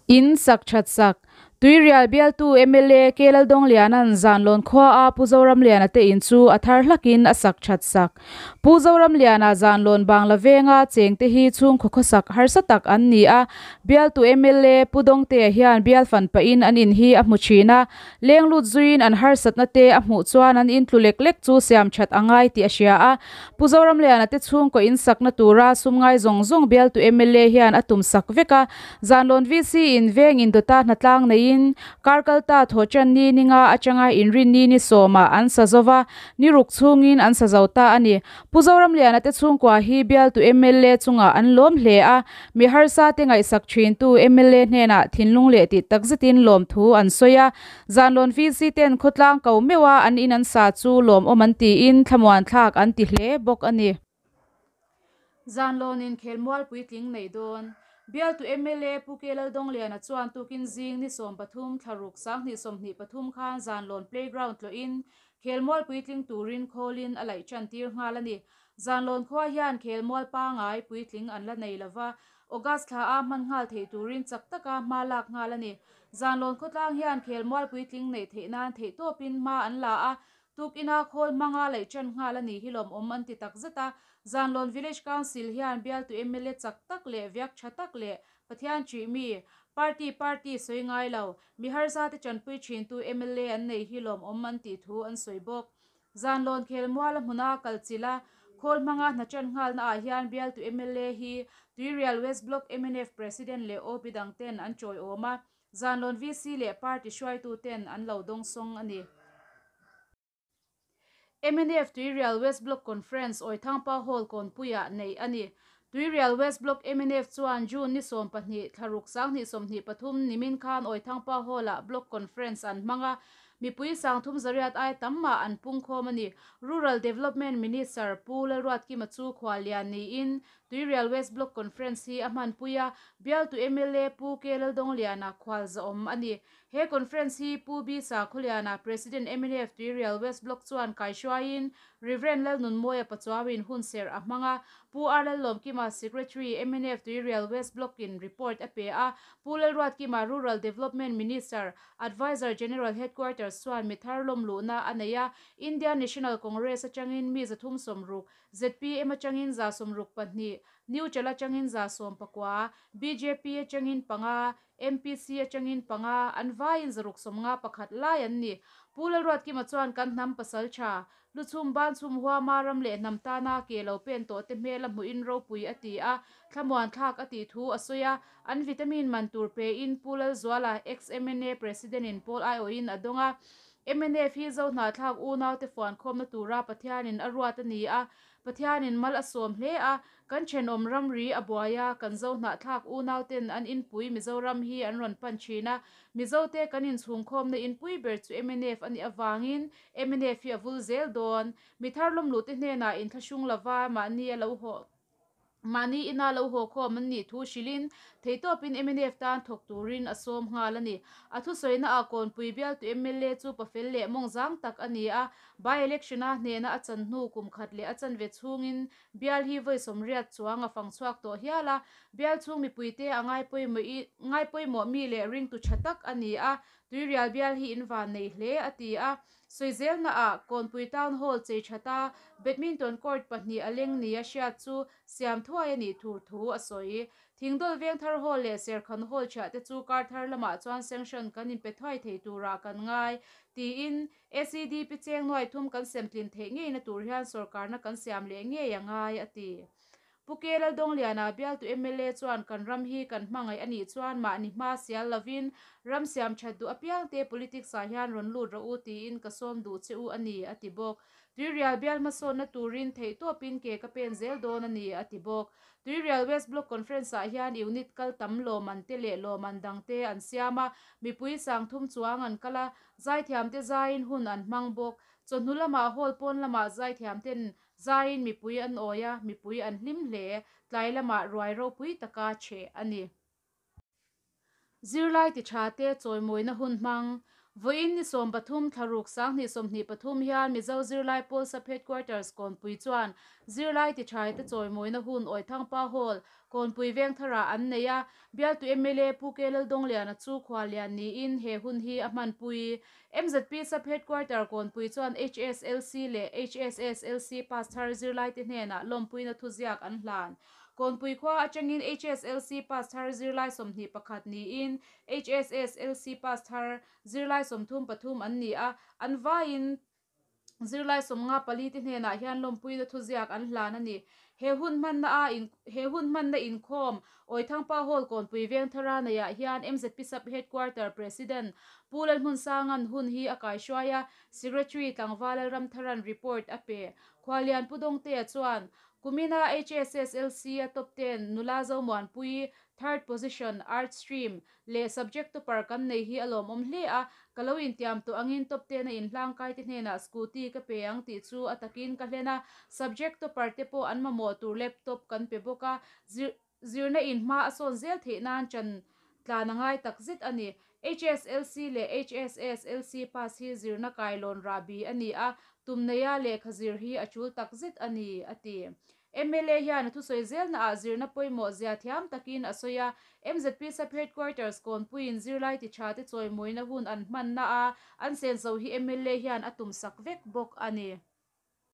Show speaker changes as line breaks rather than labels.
In sak that sak. Tuirial bialtu mla Kelaldawng Liana'n Zanlawn khuaa Pu Zoramlian a tein chu a thar hlakin a sak that sak. Pu Zoramliana Zanlawn Bangla venga cheng te hi chhungkhaw khawsak harsa tak an ni a. Bialtu mla Pu Dawngtea hian bialfan pahin an in hi a hmu thin a. Leng lut zuiin an harsatna te a hmuh chuan an intlu lek lek chu siam that a ngai tih a hria a. Pu Zoramliana te chhungkaw in sakna tura sumngai zawng zawng bialtu mla hian a tum sak vek a. Zanlawn VC in veng indawta hnatlang neiin Karkalta Thawhchan ni ninga atanga inrin ni ni sawmah an sa zo va, ni ruk chhungin an sa zo ta a ni. Pu Zoramliana te chhungkua hi bialtu mla chungah an lawm hle a, mi harsa te ngaihsak thintu mla hnenah thinlung leh tih takzetin lawm thu an sawi a. Zanlawn VC ten khawtlang ko meuh a an in an sa chu lawm awm an tiin thlamuanthlak an ti hle bawk a ni. Zanlawnin khelmual puitling neih dawn bialtu mla Pu Kei Laldawngliana chuan tukin zing ni sawm pathum thlaruk sang hnih sawmhnih pathum khan Zanlawn playground tlawhin Khelmual puitling turin khawlin a laih ṭan tir nghal a ni. Zanlawn khua hian Khelmual pangai puitling an la nei lo va, August thla a hman nghal thei turin chak taka hma lak nghal a ni. Zanlawn khawtlang hian Khelmual puitling neih theih nan theih tawpin hma an la a, tuk ina khawl hmanga laih ṭan nghal a nih hi lawmawm an ti takzet a. Zanlawn Village Council hian Bialtu mla chak tak leh viak ṭha tak leh Pathian ṭih mi, party party sawi ngai lo, Miharza te ṭanpui ṭhin tu mla an nei hi lawm awm an tih thu an sawi bawk. Zan lawn khel mual a hmuna a kal chilh a, khawl hmanga hna ṭan nghalna ah hian bialtu mla hi Tuirial West Block mnf President leh OB dang ten an ṭawi awm a, zan lawn VC leh party hruaitu ten an lo dawngsawng a ni. Mnf Tuirial West Block Conference Awithangpa Hall Kawnpuiah neih a ni. Tuirial West Block mnf chuan June ni sawm pahnih, thlaruk sanghnih sawmhnih pathum nimin khan Awithangpa Hall ah Block Conference an hmang a. Mipui sangthum zariat ai tam mah an pungkhawm a ni. Rural Development Minister Pu Lalruatkima chu khua lian niin Tuirial West Block Conference hi a hmanpui a. Bialtu mla Pu K Laldawngliana khualzawm a ni. He conference hi Pu Bisa khawliana President mnf Tuirial West Block chuan kai hruaiin Rev. Lalnunmawia Pachuawiin hun serh a hmang a. Pu Arlalawmkima Secretary mnf Tuirial West Block in report a pe a. Pu Lalruatkima Rural Development Minister, Advisor General Headquarters chuan mi thar lawm luhna a nei a. Indian National Congress atangin mi za thum sawm ruk, ZPM atangin za sawm ruk pahnih, New Chal atangin za sawm pakua, BJP atangin panga, MPC atangin panga an vaiin zaruk sawmnga pakhat lai an ni. Pu Lalruatkima chuan kan hnam pasaltha, Lu Chhum Ban Chhum Huama ram leh hnam tana ke lo pen tawh te hmela hmuhin ropui a ti a, thlamuan thlak a tih thu a sawi a. An vitamin man tur pein Pu Lalzuala ex-MNA President-in Pawl Aiawhin a dawng a. MNF hi Zohna thlak unaute fuankhawmna tura Pathianin a ruat a ni a, Pathianin mal a sawm hle a, kan thenawm ramri a buai a, kan zohnahthlak unaute'n an inpui Mizoram hi an rawn pan thin a, Mizote kan inchhungkhawmna inpui ber chu mnf a nih avangin mnf hi a vul zel dawn. Mitharlawmlute hnenah inthlahrung lova mahni a lo hawh. Mahni ina lo hawkhawm an nih thu hrilhin theitawpin mnf tan thawk turin a sawm nghal a ni. A thusawinaah Kawnpui Bialtu mla chu pa fel leh mawng zang tak a ni a, by-election a hnena a chan hnu kum khat leh a chan ve chhungin Bial hi vawi sawmriat chuang a fang chhuak tawh hial a. Bial chhung mipuite a ngai pawimawh i ngai pawimawh mi leh ringtu tha tak a ni a, Tuirial Bial hi in van nei hle a ti a. Sawi zelna ah Kawnpui Town Hall chei tha ta Badminton Court pahnih a leng nia hriat chu siam thuai a nih thur thu a sawi. Thingdawl Vengthar Hall leh Serkhan Hall thiah te chu Karthar lamah chuan sanction kan inpe thuai thei turah kan ngai tiin SEDP cheng nuai thum kan semtlin theih ngei na tur hian sorkarna kan siam leh ngei a ngai a ti. Pu Kyaw Laldawng Liana bialtu mla chuan kan ram hi kan hmangaih a nih chuan mahni hma sial lovin ram siam that duh apiangte politics ah hian rawn lut rawh u tiin ka sawm duh che u a ni a ti bawk. Tuirial bial hmasawnna turin theihtawpin ke ka pen zel dawn a ni a ti bawk. Tuirial West Block Conference ah hian unit kal tam lawman te leh lawman dang te an siam a, mipui sang thum chuang an kal a, zaithiam te zaiin hun an hmang bawk. Chawhnu lamah hall pawn lamah zaithiam ten Zaiin mipui an awi a, mipui an hlim hle. Tlai lamah ruai ropui taka che a ni. Zirlai tiṭha te chawimawina hun hmang. Vawiin ni sawm pathum thlaruk sanghnih sawmhnih pathum hian Mizo Zirlai Pawlsap Headquarters Kawnpui chuan Zirlai tiṭhai te chawimawina hun Awi Thangpa Hall, Kawnpui Vengtharah an nei a. Bialtu mla Pu K Laldawngliana chu khualian niin he hun hi a hmanpui MZPSAP Headquarter Kawnpui chuan HSLC leh HSSLC pass thar zirlaite hnenah lawmpuina thuziak an hlan. Kawnpui khua atangin HSLC pass thar zirlai sawmhnih pakhat niin HSSLC pass thar zirlai sawmthum pathum an ni a, an vaiin Zirlai sawmnga pali te hnenah hian lawmpuina thuziak an hlan a ni. He hun hmanna a in he hun hmanna inkhawm Awi Thangpa Hall Kawnpui Vengthara neiah hian mzp sub headquarter president Pu Lalhmunsanga'n hun hi a kaihruai a, Secretary Tlangva Lalramthara'n report a pe. Khualian Pu Dawngtea chuan Kumina HSSLC-a top ten Nula Zomuanpui, third position, Art Stream, leh subject topper kan nei hi a lawmawm hle a, ka lo intiam tawh angin top ten a inhlangkai te hnenah scooty ka pe ang tih chu a takin ka hlen a, subject topper te pawh an mamawh tur laptop kan pe bawk a, zir zirna in hma a sawn zel theih nan chan tlan a ngai tak zet a ni, HSLC leh HSASLC pass hi zirna kai lawn rah bi a ni a, tumneia lehkha zir hi a chul tak zet a ni a ti. Mla hian a thusawi zelnaah zirna pawimawh zia thiam takin a sawi a, mzp Sub-Headquarters Kawnpuiin zirlai ti tha te chawimawina hun an hmanna a an senso hi mla hian a tum sak vek bawk a ni.